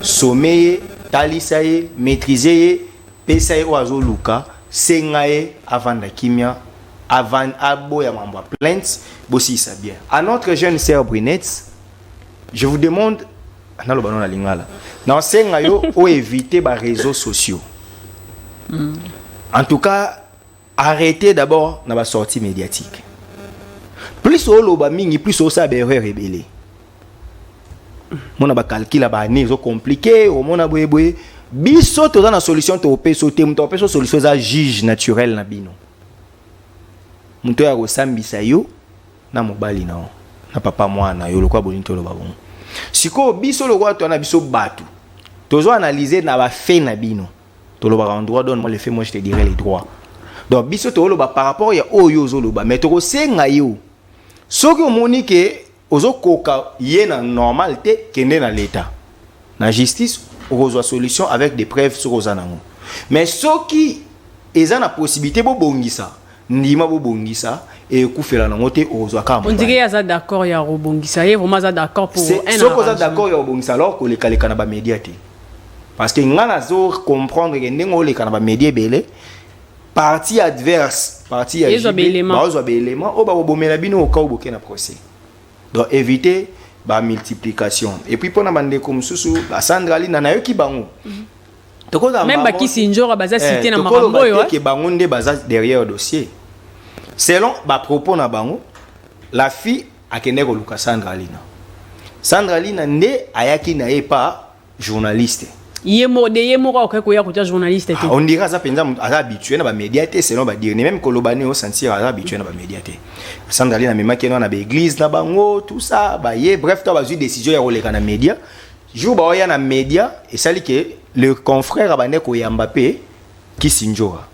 Speaker 3: some ye talisa ye maîtrise ye pesa ye oyo azoluka senga ye avanda kimia aboya mambo ya plainte bosilisa bien à notre jeune sœur brunette je vous demande naloba no na lingala nasenga yo oevite bareseau sociaux mm. en tout cas arrêtez d'abord na basortie médiatique plus oloba mingi plus osala baerreur ebele mona bacalcule ya baannée ezo compliqué omona boyeboye biso toza na solution topesa te moto apesa solution eza juge naturel na bino moto oyo akosambisa yo na mobali na yo na papa mwana na yo lokola bolingi toloba bongo sikoyo biso lokola toya na biso bato tozo analyse na bafe na bino tolobaka en droit donne moi le fait moi je te dirai les droits donc biso toloba par rapport ya oyo ozoloba mais tokosenga yo soki omoni ke ozokoka ye na normal te kende na leta na justice okozwa solution avec des preuves soki oza nango mais soki eza na possibilité bobongisa ndima bobongisa ekufela nango te okozwa kaka on dirait aza
Speaker 1: d'accord ya kobongisa ye vraiment aza d'accord pour un soki oza d'accord ya
Speaker 3: kobongisa alors kolekaleka na bamedia te parce que ngai nazo comprendre ke ndenge oleka na bamedia ebele parti adverse parti ya baozwa
Speaker 1: baelement oyo
Speaker 3: bakobomela bino okau boke na procès donc éviter bamultiplication epuis mpona bandeko mosusu basandra lina nayoki bango mm -hmm. tokozala
Speaker 1: même bakisi njora baza eh, cité na makambo oyo que bango nde baza
Speaker 3: derrière dossier selon ba propos na bango la fille akende koluka Sandra Lina Sandra Lina nde ayaki na ye pa journaliste ye moko de
Speaker 1: ye moko akoki koya kotya journaliste te ah, on dirait aza mpenza aza
Speaker 3: habitué na bamédia te selon badire ne même koloba nini osentir aza habitué na bamédia te sandali na memaki ena na baeglise na bango tout ça baye bref to bazwi décision ya koleka na média jour baoya na media esali ke le confrère abande koyamba mpe kisindjora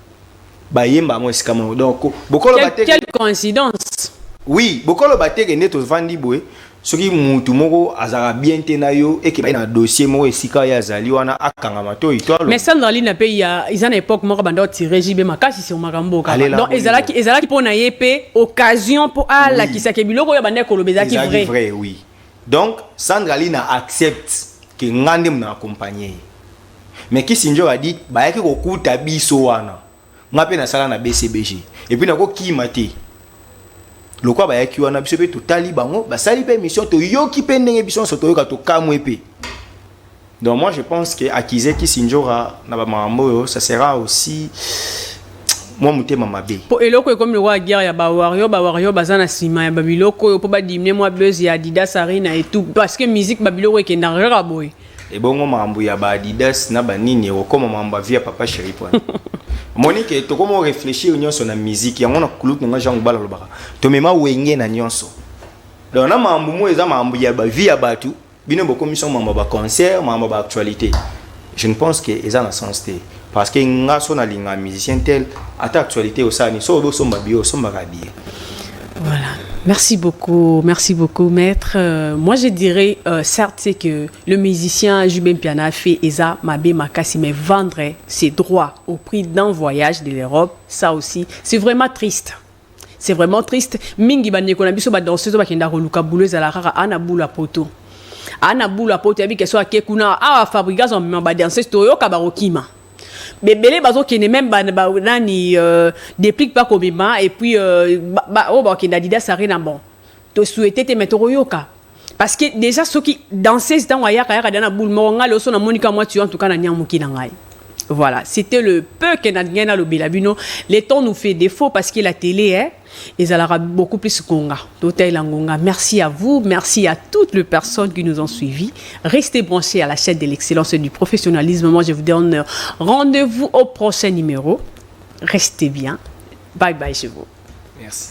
Speaker 3: bayemba yango esika moko donc bokoloba te quelle
Speaker 1: coïncidence
Speaker 3: oui bokoloba te
Speaker 1: ke nde
Speaker 3: tovandi boye soki mutu moko azalaka bien te na yo ekeba ye na dossier moko esika ye azali wana akanga matoi to mais sandraline na mpe ya
Speaker 1: eza na époque moko banda otire jb makasi sur makambo okaka donc ezalaki ezalaki mpo na ye mpe occasion mpo alakisake biloko oyo abandaki koloba ezalaki vrai vrai oui
Speaker 3: Donc Sandra Lina accepte que nga nde muna accompagner ye. Mais Kissinger a dit bayaki kokuta biso wana. Nga pe nasala na BCBG. Et puis nako kima te. Lokwa bayaki wana biso pe totali bango basali pe mission toyoki pe ndenge biso nso toyoka tokamwe pe. Donc moi je pense que accuser Kisindjora na ba mamboyo ça sera aussi moi mutema mabe. Po eloko ekomi lokola
Speaker 1: guerre ya ba warrior ba warrior baza na sima ya babiloko oyo po ba diminuer moi buzz ya Adidas Arena et tout parce que musique babiloko ekenda kaka boye. Ebongo mambo
Speaker 3: ya ba Adidas na ba nini okoma mambo via papa chéri point. Moni que tokomo réfléchir nyonso na musique yango na kuluk na Jean Bala lobaka. Tomema wenge na nyonso. Donc na mambo mo eza mambo ya ba vie ya batu. bino bokomisi yango makambo ya baconcert makambo ya baactualité je ne pense que eza na sens te parce que nga so nalinga musicien tel ata actualité osala nini so obi osomba biye osombaka biye voilà
Speaker 1: Merci beaucoup, merci beaucoup, maître. Euh, moi, je dirais, euh, certes, c'est que le musicien Jubin Piana fait Eza Mabé Makassi, mais vendre ses droits au prix d'un voyage de l'Europe, ça aussi, c'est vraiment triste. C'est vraiment triste. Mingi ba ndeko na biso ba danseuse ba kenda koluka boulot ezala kaka ana boulot à poto. Ana boulot à poto ya bikeso ake kuna awa Fabrigaz on ba danseuse to yoka ba kokima. Bebele bazo kende même ba, ba nani euh, déplique pas komema et puis euh, ba, ba, oh, ba kenda Adidas Arena bon. To souhaiter te mais to koyoka. Parce que dejà soki danseuse tango ayaka yaka dejà na boule moko ngai loso na moni kaka mwa tuyau en tout cas na niamuki na ngai. Voilà, c'était le peu que nadingai nalobela bino. Le temps nous fait défaut parce que la télé est ezalaka beaucoup plus konga totalela ngonga merci à vous merci à toutes les personnes qui nous ont suivis restez branchés à la chaîne de l'excellence et du professionnalisme moi je vous donne rendez-vous au prochain numéro restez
Speaker 3: bien
Speaker 1: bye bye chez vous merci